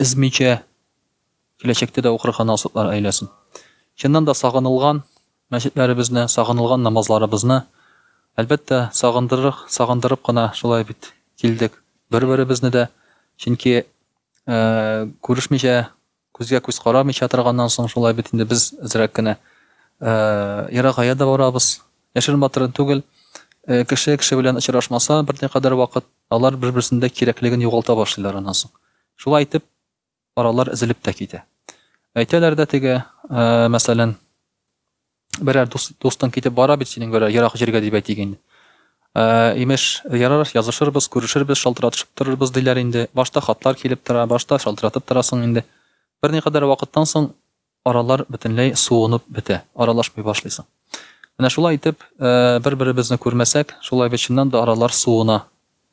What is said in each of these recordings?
Өзмичә, киләчәктә дә укырга насыйплар әйләсен. Чыннан да сагынылган мәчетләребезне, сагынылган намазларыбызны, әлбәттә, сагындырырг, сагындырып кына шулай бит килдек бер-беребезне дә, чөнки күрешмичә, күзгә-күз карамыйча торганнан соң шулай бит инде без әзрәк кенә ерагая да барабыз. Яшерен-батырын түгел, кеше кеше белән очрашмаса, берникадәр вакыт, Алар бер-берсендә кирәклеген югалта башлыйлар аннан соң. Шулай итеп, аралар өзелеп тә китә. Әйтәләр дә теге, мәсәлән, берәр дустың китеп бара бит синең берәр ерак җиргә дип әйтик инде. Имеш, ярар, язышырбыз, күрешербез, шалтыратышып торырбыз диләр инде. Башта хатлар килеп тора, башта шалтыратып торасың инде. Берникадәр вакыттан соң Аралар бөтенләй суынып бетә, аралашмый башлыйсың. Менә шулай итеп, бер-беребезне күрмәсәк, шулай бит чыннан да аралар суына.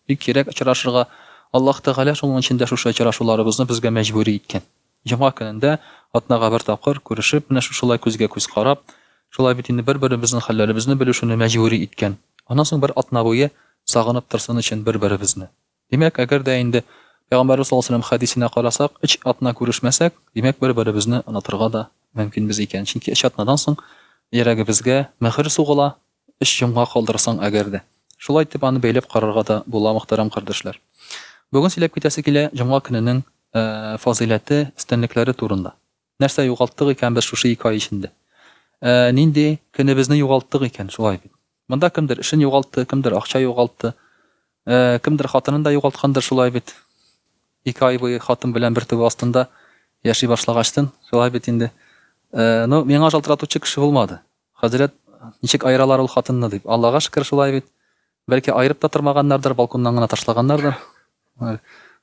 Бик кирәк очрашырга, Аллаһ Тәгалә шуның өчен дә шушы очрашуларыбызны безгә мәҗбүри иткән. Җомга көнендә, атнага бер тапкыр, күрешеп, менә шушылай күзгә-күз карап, шулай бит инде бер-беребезнең хәлләребезне белешүне мәҗбүри иткән. Аннан соң бер атна буе сагынып торсын өчен бер-беребезне. Димәк, әгәр дә инде Пәйгамбәрбез саллаллаһу галәйһи ва сәлләм хәдисенә карасак, өч атна күрешмәсәк, димәк, бер-беребезне онытырга да мөмкинбез икән. Чөнки өч атнадан соң йөрәгебезгә мөһер сугыла, өч йомгак калдырсаң әгәр дә. Шулай итеп аны бәйләп карарга да була, мөхтәрәм кардәшләр. Бүген сөйләп китәсе килә җомга көненең фазыйләте, өстенлекләре турында. Нәрсә югалттык икән без шушы ике ай эчендә? Ә нинди көнебезне югалттык икән? Шулай бит. Монда кемдер эшен югалтты, кемдер акча югалтты, ә кемдер хатынын да югалткандыр, шулай бит. Ике ай буе хатын белән бер түбә астында яши башлагачтын, шулай бит инде. Ә, ну, миңа шалтыратучы кеше булмады. Хәзрәт, Ничек аералар ул хатынны, дип. Аллага шөкер, шулай бит. Бәлки, аерып та тормаганнардыр, балконнан гына ташлаганнардыр. Менә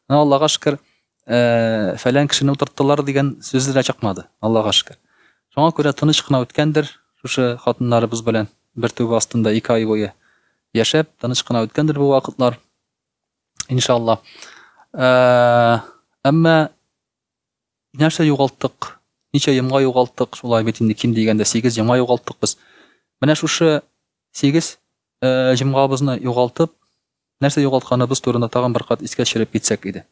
Аллага шөкер, фәлән кешене утырттылар дигән сүз дә чыкмады. Аллага шөкер. Шуңа күрә тыныч кына үткәндер, шушы хатыннарыбыз белән бер түбә астында ике ай буе яшәп, тыныч кына үткәндер бу вакытлар. Иншалла. Әмма Нәрсә югалттык? Ничә йомга югалттык? Шулай бит инде ким дигәндә сигез йомга югалттык без. Менә шушы сигез җомгабызны югалтып, нәрсә югалтканыбыз турында тагын бер кат искә төшереп китсәк иде.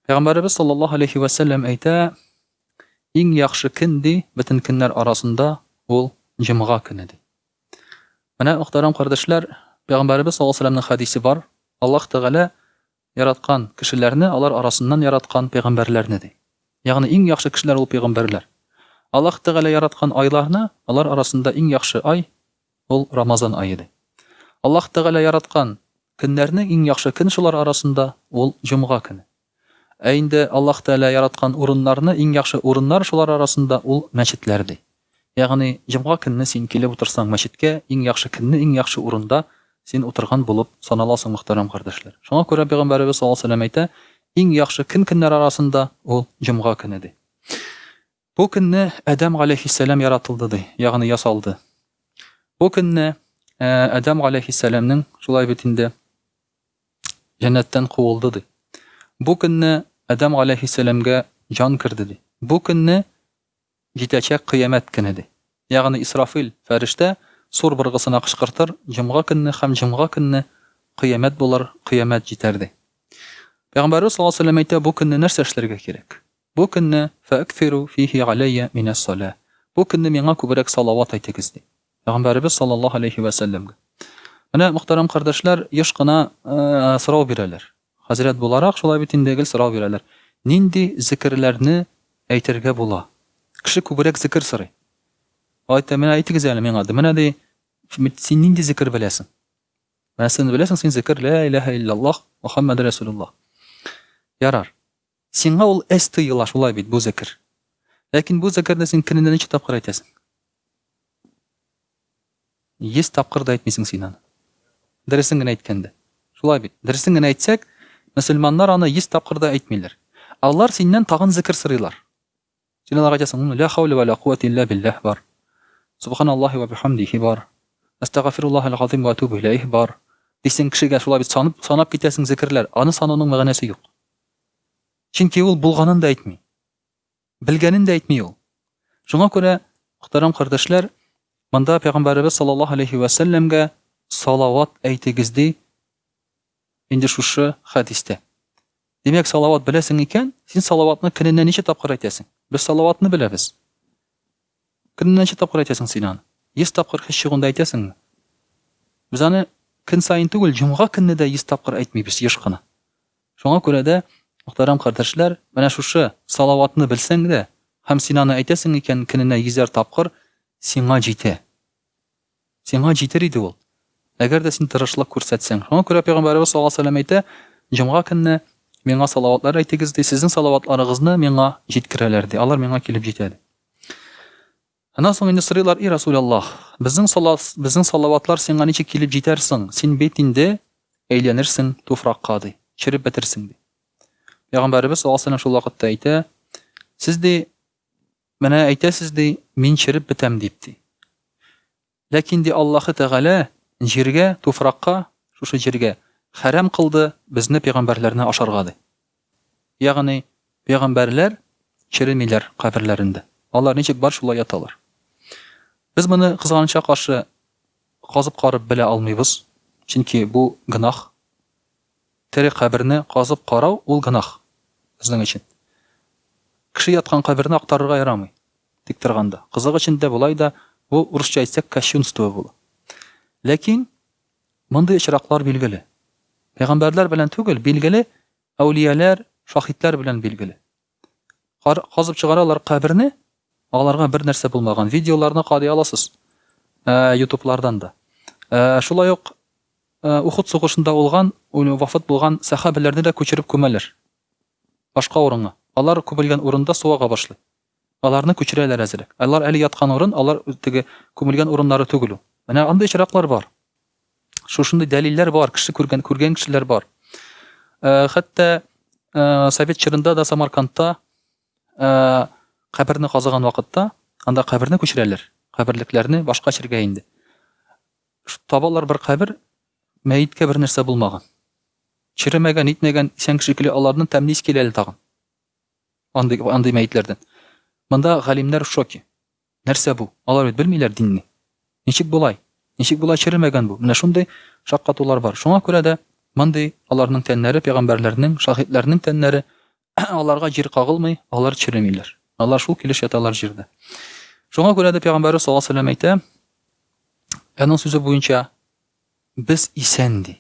Пәйгамбәребез саллаллаһу алейхи ва саллям әйтә, иң яхшы көн ди, бөтен көннәр арасында ул җомга көне ди. Менә мөхтәрәм кардәшләр, пәйгамбәребез саллаллаһу алейхи ва хадисе бар. Аллаһ Тәгалә Яраткан, кешеләрне, алар арасыннан яраткан, пәйгамбәрләрне, ди. Ягъни иң яхшы кешеләр ул пәйгамбәрләр. Аллаһ Тәгалә яраткан айларны, алар арасында иң яхшы ай, ул Рамазан ае, ди. Аллаһ Тәгалә яраткан, көннәрнең иң яхшы көн шулар арасында, ул җомга көне. Ә инде Аллаһ Тәгалә яраткан урыннарны, иң яхшы урыннар шулар арасында, ул мәчетләр, ди. Ягъни, җомга көнне син килеп утырсаң мәчеткә, иң яхшы көнне иң яхшы урында син утырган булып саналасың, мөхтәрәм кардәшләр. Шуңа күрә Пәйгамбәребез саллаллаһу галәйһи ва сәлләм әйтә, Иң яхшы көн көннәр арасында, ул, җомга көне, ди. Бу көнне Адәм галәйһиссәлам яратылды, ди, ягъни ясалды. Бу көнне Адәм галәйһиссәламнең, шулай бит инде, җәннәттән куылды, ди. Бу көнне Адәм галәйһиссәламгә җан керде, ди. Бу көнне Җитәчәк Кыямәт көне, ди. Ягъни Исрафил фәрештә сур быргысына кычкыртыр, Җомга көнне һәм җомга көнне Кыямәт булыр, Кыямәт җитәр, ди. Пәйгамбәребез саллаллаһу галәйһи ва сәлләм әйтә, бу көнне нәрсә эшләргә кирәк? Бу көнне, Фәэкфирү фиһи галәййә минәс-салә, бу көнне миңа күбрәк салават әйтегез, ди. Пәйгамбәребез саллаллаһу галәйһи ва сәлләмгә. Менә, мөхтәрәм кардәшләр, еш кына сорау бирәләр. Хәзрәт буларак, шулай бит инде, гел сорау бирәләр, нинди зекерләрне әйтергә була? Кеше күбрәк зекер сорый. Алай итеп, менә әйтегез әле миңа, ди, менә, ди, син нинди зекер беләсең? Менә син беләсең, син зекер, лә иләһә илляллаһ, Мөхәммәде рәсүлуллаһ. Ярар. Сиңа ул эз тоела, шулай бит, бу зекер. Ләкин бу зекерне син көнендә ничә тапкыр әйтәсең? Йөз тапкыр да әйтмисең син аны. Дөресен генә әйткәндә. Шулай бит. Дөресен генә әйтсәк, мөселманнар аны йөз тапкыр да әйтмиләр. Алар синнән тагын зекер сорыйлар. Син аларга әйтәсең, Лә хәүлә вә лә куәтә илля билләһ бар. Субханаллаһи вә бихәмдиһи бар. Әстәгафируллаһәл газыйм вә әтүбү иләйһ бар. Дисең, кешегә шулай бит санып, санап китәсең зекерләр, аны санауның мәгънәсе юк. Чөнки ул булганын да әйтми. Белгәнен дә әйтми ул. Шуңа күрә, мөхтәрәм кардәшләр, монда Пәйгамбәребез саллаллаһу алейһи вә сәлләмгә салават әйтегез ди Инде шушы хәдистә. Димәк, салават беләсең икән, син салаватны көненә ничә тапкыр әйтәсең? Без салаватны беләбез. Көненә ничә тапкыр әйтәсең син аны? 100 тапкыр хис чыгында әйтәсеңме? Без аны көн саен түгел, җомга көнне дә 100 тапкыр әйтмибез еш кына. Шуңа күрә дә, мөхтәрәм кардәшләр, менә шушы салаватны белсәң дә, һәм син аны әйтәсең икән көненә йөзәр тапкыр, сиңа җитә. Сиңа җитер иде ул. Әгәр дә син тырышлык күрсәтсәң. Шуңа күрә Пәйгамбәребез саллаллаһу алейһи вә сәлләм әйтә, Җомга көнне миңа салаватлар әйтегез, ди, сезнең салаватларыгызны миңа җиткерәләр, ди, алар миңа килеп җитә, ди. Аннан соң инде сорыйлар, И Расул Аллаһ, безнең салас, безнең салаватлар сиңа ничек килеп җитәр соң? Син бит инде әйләнерсең туфракка, ди, череп бетерсең, ди. Пәйгамбәребез саллаллаһу алейһи вә сәлләм шул вакытта әйтә, Сез, ди, Менә әйтәсез ди, мин череп бетәм дип ди. Ләкин ди Аллаһы Тәгалә җиргә, туфракка, шушы җиргә хәрам кылды безне пәйгамбәрләрне ашарга ди. Ягъни пәйгамбәрләр черемиләр каберләрендә. Алар ничек бар шулай яталар. Без моны кызганычка каршы казып карып белә алмыйбыз, чөнки бу гөнаһ. Тере каберне казып карау ул гөнаһ безнең өчен. Кеше яткан каберне актарырга ярамый, тик торганда. Кызык өчен дә болай да бу, урысча әйтсәк, кощунство була. Ләкин мондый очраклар билгеле. Пәйгамбәрләр белән түгел, билгеле, әүлияләр, шаһитләр белән билгеле. Казып чыгаралар каберне, аларга бер нәрсә булмаган. Видеоларны кадый аласыз. Ә, ютублардан да. Ә, шулай ук ә, Ухуд сугышында улган, вафат булган сәхабәләрне дә күчереп күмәләр. Башка урынга. Алар күмелгән урында суага башлый. Аларны күчерәләр әзерәк. Алар әле яткан урын, алар теге күмелгән урыннары түгел ул. Менә андый чираклар бар. Шушындый дәлилләр бар, кеше күргән, күргән кешеләр бар. Э, хәтта э, совет чорында да Самаркандта э, каберне казыган вакытта, анда каберне күчерәләр, каберлекләрне башка чиргә инде. Табалар бер кабер, мәеткә бер нәрсә булмаган. Черемәгән, итмәгән, исән кеше килә, аларны тәмлис килә әле тагын. Андый, андый мәетләрдән. Монда галимнәр в шоке. Нәрсә бу? Алар бит белмиләр динне. Ничек болай? Ничек болай черемәгән бу? Менә шундый шаккатулар бар. Шуңа күрә дә мондый аларның тәннәре пәйгамбәрләрнең, шаһитләрнең тәннәре, аларга җир кагылмый, алар черемиләр. Алар шул килеш яталар җирдә. Шуңа күрә дә пәйгамбәре саллаллаһу алейһи әйтә, аның сүзе буенча без исән ди.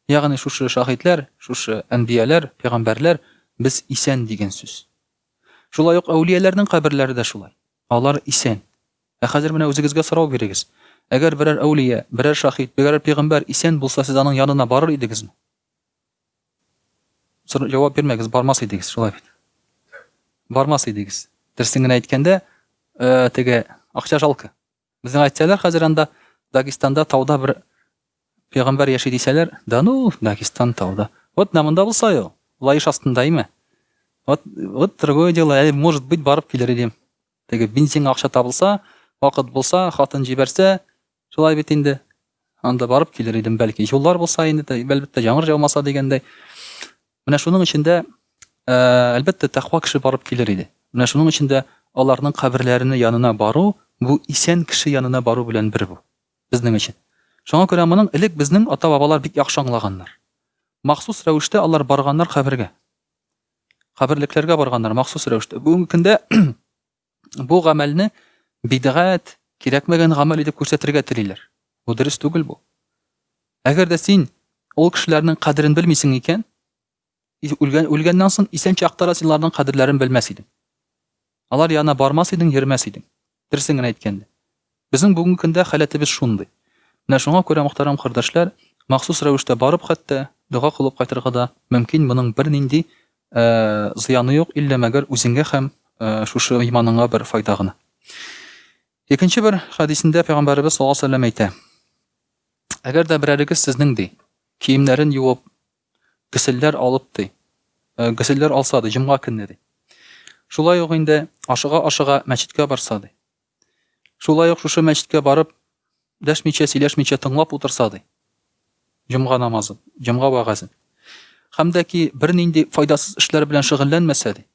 Ягъни шушы шаһитләр, шушы әнбияләр, пәйгамбәрләр без исән дигән сүз. Шулай ук әүлияләрнең каберләре дә шулай. Алар исән. Ә хәзер менә үзегезгә сорау бирегез. Әгәр берәр әүлия, берәр шаһит, берәр пигамбәр исән булса, сез аның янына барыр идегезме? Сор, җавап бирмәгез, бармас идегез, шулай бит. Бармас идегез. Дөресен генә әйткәндә, э, теге акча жалко. Безнең әйтсәләр хәзер анда Дагестанда тауда бер пәйгамбәр яши дисәләр, да ну, Дагестан тауда. Вот менә монда булса ул, лаеш астында име? Вот, вот другое дело, әле может быть барып килер идем. Теге бензин акча табылса, вакыт булса, хатын җибәрсә, шулай бит инде. Анда барып килер идем, бәлки юллар булса инде, әлбәттә, яңгыр жаумаса дигәндәй. Менә шуның өчен дә, әлбәттә, тәкъва кеше барып килер иде. Менә шуның өчен дә аларның каберләренә янына бару, бу исән кеше янына бару белән бер бу. Безнең өчен. Шуңа күрә моның элек безнең ата-бабалар бик яхшы аңлаганнар. Махсус рәвештә алар барганнар кабергә. Каберлекләргә барганнар махсус рәвештә. Бүгенге көндә бу гамәлне бидгать, кирәкмәгән гамәл итеп күрсәтергә телиләр. Бу дөрес түгел бу. Әгәр дә син ул кешеләрнең кадерен белмисең икән, үлгән үлгәннән соң исән чакта да син аларның кадерләрен белмәс идең. Алар янына бармас идең, йөрмәс идең. Дөресен генә әйткәндә. Безнең бүгенге көндә халәтебез шундый. Менә шуңа күрә, мохтәрәм кардәшләр, махсус рәвештә барып хәтта, дога кылып кайтырга да мөмкин, моның бернинди зыяны юк, иллә мәгәр үзеңгә һәм шушы иманыңа бер файда гына. Икенче бер хәдисендә пәйгамбәребез саллаллаһу алейһи ва сәлләм әйтә, Әгәр дә берәрегез сезнең ди, киемнәрен юып, гөселләр алып ди, гөселләр алса ди, җомга көнне ди. Шулай ук инде ашыга-ашыга мәчеткә барса ди. Шулай ук шушы мәчеткә барып, дәшмичә, сөйләшмичә тыңлап утырса, ди, җомга намазын, җомга вәгазен, һәм дә ки бернинди файдасыз эшләр белән шөгыльләнмәсә, ди.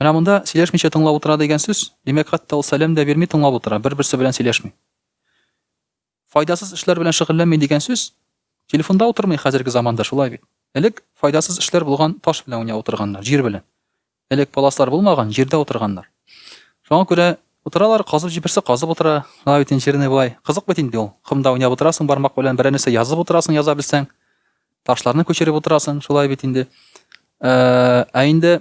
Менә монда сөйләшмичә тыңлап утыра дигән сүз, димәк, хәтта ул сәлам да бирми тыңлап утыра, бер-берсе белән сөйләшми. Файдасыз эшләр белән шөгыльләнми дигән сүз? Телефонда утырмый хәзерге заманда, шулай бит. Элек файдасыз эшләр булган таш белән уйнап утырганнар, җир белән. Элек паласлар булмаган, җирдә утырганнар. Шуңа күрә утыралар, казып җибәрсә казып утыра. Шулай бит инжирный болай. Кызык бит инде ул. Комда уйнап утырасың, бармак белән берәр нәрсә язып утырасың, яза белсәң. Ташларны күчереп утырасың, шулай бит инде. Ә инде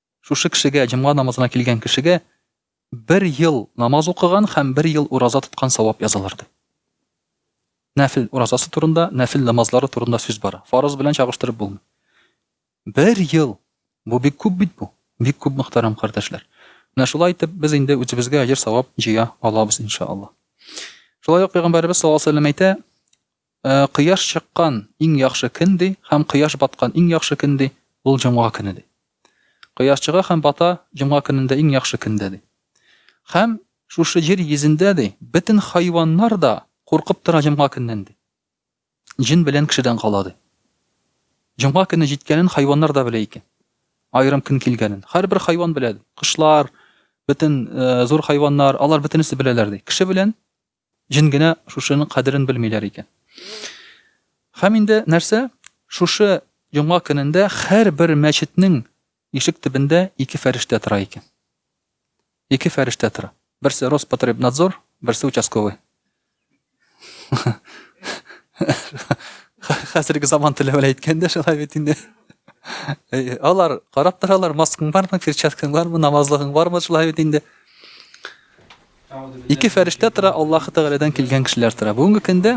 Шушы кешегә, җомга намазына килгән кешегә бер ел намаз укыган һәм бер ел ураза тоткан савап язылыр, ди. Нәфел уразасы турында, нәфел намазлары турында сүз бара. Фарыз белән чагыштырып булмый. Бер ел! Бу бик күп бит бу. Бик күп, мөхтәрәм кардәшләр. Менә шулай итеп, без инде үзебезгә әҗер-савап җыя алабыз, иншаалла. Шулай ук Пәйгамбәребез саллаллаһу алейһи ва сәлләм әйтә, Кояш чыккан иң яхшы көн, ди, һәм кояш баткан иң яхшы көн, ди, ул җомга көне, ди. Кояш чыга һәм бата җомга көнендә иң яхшы көндә, ди. Һәм шушы җир йөзендә, ди, бөтен хайваннар да куркып тора җомга көннән, ди. Җен белән кешедән кала, ди. Җомга көне җиткәнен хайваннар да белә икән. Аерым көн килгәнен. Һәрбер хайван белә, ди. Кошлар, бөтен зур хайваннар, алар бөтенесе беләләр, ди. Кеше белән Җен генә шушының кадерен белмиләр икән. Һәм инде нәрсә, шушы йома көнендә һәрбер мәчетнең ишек төбендә ике фәрештә тора икән. Ике фәрештә тора. Берсе Роспотребнадзор, берсе участковый. Хәзерге заман теле белән әйткәндә шулай бит инде. Э, алар карап торалар, маскаң бармы, перчаткаң бармы, намазлыгың бармы, шулай бит инде. Ике фәрештә тора, Аллаһы Тәгаләдән килгән кешеләр тора. Бүгенге көндә,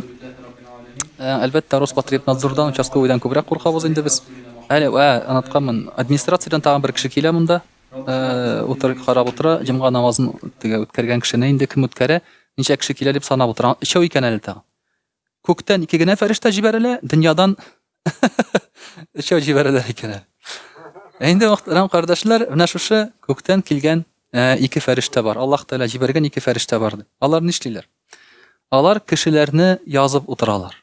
э, әлбәттә, Роспотребнадзордан, участковыйдан күбрәк куркабыз инде без. Әле, ә, анатканмын, администрациядән тагын бер кеше килә монда, э, утыр, карап утыра, җомга намазын теге үткәргән кешене инде кем үткәрә, ничә кеше килә дип санап утыра. Өчәү икән әле тагын. Күктән ике генә фәрештә җибәрелә, дөньядан өчәү җибәрелә икән. Ә инде мөхтәрәм кардәшләр, менә шушы күктән килгән э, ике фәрештә бар. Аллаһ Тәгалә җибәргән ике фәрештә бар дип. Алар нишлиләр? Алар кешеләрне язып утыралар.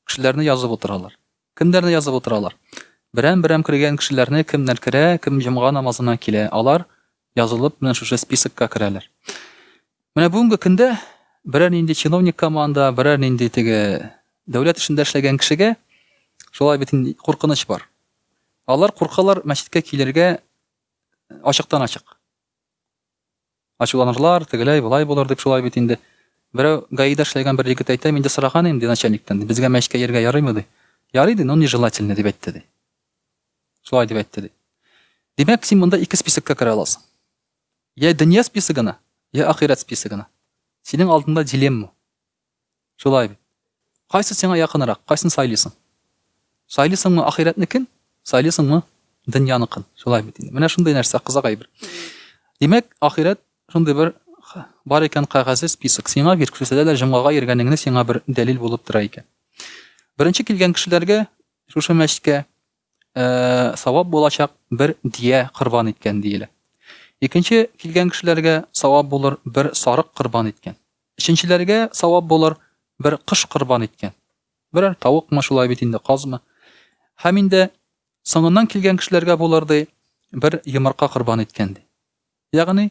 Кешеләрне язып утыралар. Кемнәрне язып утыралар? Берәм-берәм кергән кешеләрне кемнәр керә, кем җомга намазына килә, алар язылып менә шушы списокка керәләр. Менә бүгенге көндә берәр нинди чиновник команда, берәр нинди теге дәүләт эшендә эшләгән кешегә шулай бит куркыныч бар. Алар куркалар мәчеткә килергә ачыктан-ачык. Ачуланырлар, тегеләй, болай булыр дип шулай бит инде. Берәү ГАИда эшләгән бер егет әйтә, мин дә сораган идем, ди, начальниктан, ди, безгә мәчкә йөрергә ярыймы, ди. Ярый, ди, но нежелательно, дип әйтте, ди. Шулай дип әйтте, ди. Димәк, син монда ике списокка керә аласың. Йә дөнья списогына, йә ахирәт списогына. Синең алдында дилемма. Шулай бит. Кайсы сиңа якынрак, кайсын сайлыйсың? Сайлыйсыңмы ахирәтнекен, сайлыйсыңмы дөньяныкын? Шулай бит инде. Менә шундый нәрсә кызык әйбер. Димәк, ахирәт шундый бер бар икән кәгазе список. Сиңа бир күрсәтә дә җомгага йөргәнеңне сиңа бер дәлил булып тора икән. Беренче килгән кешеләргә шушы мәчкә э, савап булачак бер дия корбан иткән диелә. Икенче килгән кешеләргә савап булыр бер сарык корбан иткән. Өченчеләргә савап булыр, бер кош корбан иткән. Берәр тавыкмы, шулай бит инде, казмы. Һәм инде соңыннан килгән кешеләргә булыр, ди, бер йомырка корбан иткән, ди. Ягъни,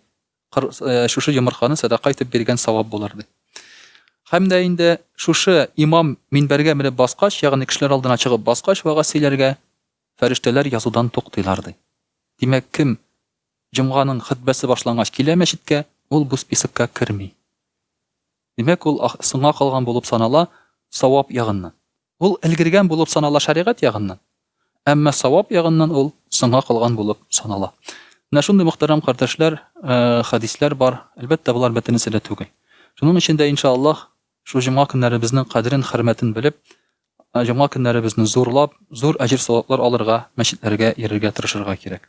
шушы йомырканы сәдака итеп биргән савап булыр, ди. Һәм дә инде шушы имам минбәргә менеп баскач, ягъни кешеләр алдына чыгып баскач, вәгазь сөйләргә, фәрештәләр язудан туктыйлар, ди. Димәк, кем Җомганың хөтбәсе башлангач килә мәчеткә, ул бу списокка керми. Димәк, ул соңга калган булып санала савап ягыннан. Ул өлгергән булып санала шәригать ягыннан, әмма савап ягыннан ул соңга калган булып санала. Менә шундый мөхтәрәм кардәшләр, хәдисләр бар. Әлбәттә, болар бөтенесе дә түгел. Шуның өчен дә, иншааллаһ, шул җомга көннәребезнең кадерен, хөрмәтен белеп, җомга көннәребезне зурлап, зур әҗер-саваплар алырга, мәчетләргә йөрергә тырышырга кирәк.